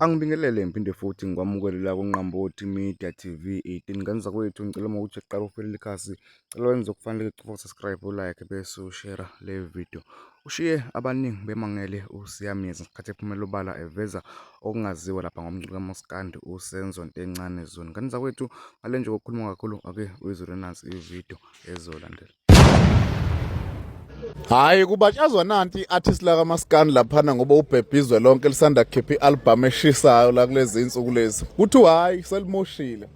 Angibingelele ngiphinde futhi ngikwamukelela kuNqambothi Media TV 18 ngane zakwethu ngicela uma ukuthi qala ufele likhasi cela wenze okufanele cofa subscribe ulike bese ushare le video ushiye abaningi bemangele usiyamyeza ngesikhathi ephumela obala eveza okungaziwa lapha ngomculo kaMoskandi usenzo ntencane zoni ngane zakwethu ngale nje kokukhuluma kakhulu ake uyizwe nansi ivideo ezolandela Hayi kubatshazwa nanti artist la kamaskani laphana ngoba ubhebhizwe lonke lisanda kukhipha ialbum eshisayo la kulezi insuku lezi. Kuthiwa hayi selimoshile.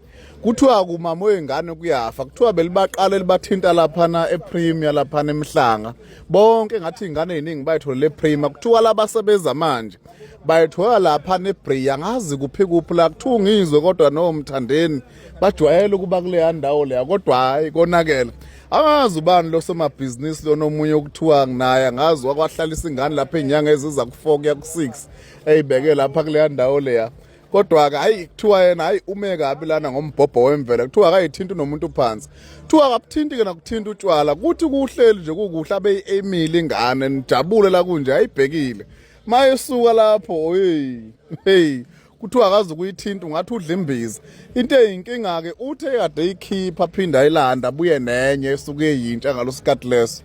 Kuthiwa kumama wengane kuyafa. Kuthiwa belibaqala libathinta laphana ePremier laphana emhlanga. Bonke ngathi ingane eziningi bayitholele ePremier. Kuthiwa labasebenza manje bayithola lapha neBria ngazi kuphi kuphi la kuthiwa ngizwe kodwa nomthandeni bajwayele ukuba kuleya ndawo leya kodwa hhayi konakele angazi ubani losomabhizinisi lona omunye okuthiwa naye angazi wakwahlalisa ingane lapha iy'nyanga eziza ku-four kuya ku-six eyibeke lapha kuleya ndawo leya kodwa-ke hayi kuthiwa yena hayi ume kabi lana ngombhobho wemvelo kuthiwa akayithinti nomuntu phansi kuthiwa akabuthinti-ke nakuthinta utshwala kuthi kuhleli nje kukuhle abeyi-emile ingane nijabule la kunje ayibhekile mayesuka lapho heyi heyi kuthiwa akazi ukuyithinta ungathi udla imbiza into eyinkinga-ke uthe kade eyikhipha aphinde ayilanda abuye nenye esuke eyintsha ngalo sikhathi leso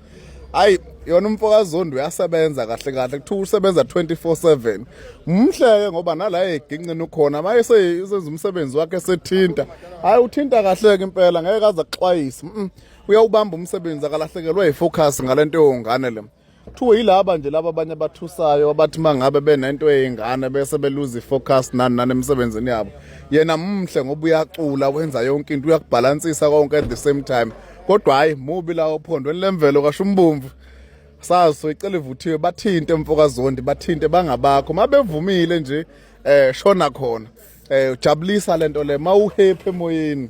ayi yona umfokazondi uyasebenza kahle kahle kuthiwa usebenza 24/7 umhleke ngoba nala eginqini ukhona maye seyenza umsebenzi wakhe sethinta hayi uthinta kahle ke impela ngeke aze axwayise uyawubamba umsebenzi akalahlekelwa yifocus ngalento yongane le kuthiwe yilaba nje laba abanye abathusayo abathi mangabe benento eyingane bese beluza ifocus nani nani emsebenzini yabo yena mumhle ngoba uyacula wenza yonke into uyakubhalansisa konke at the same time kodwa hayi mubi la ophondweni lemvelo kasho umbomvu sazi soyicela ivuthiwe bathinte mfokazondi bathinte bangabakho mabevumile nje eh shona khona eh ujabulisa lento le mawuhephe emoyeni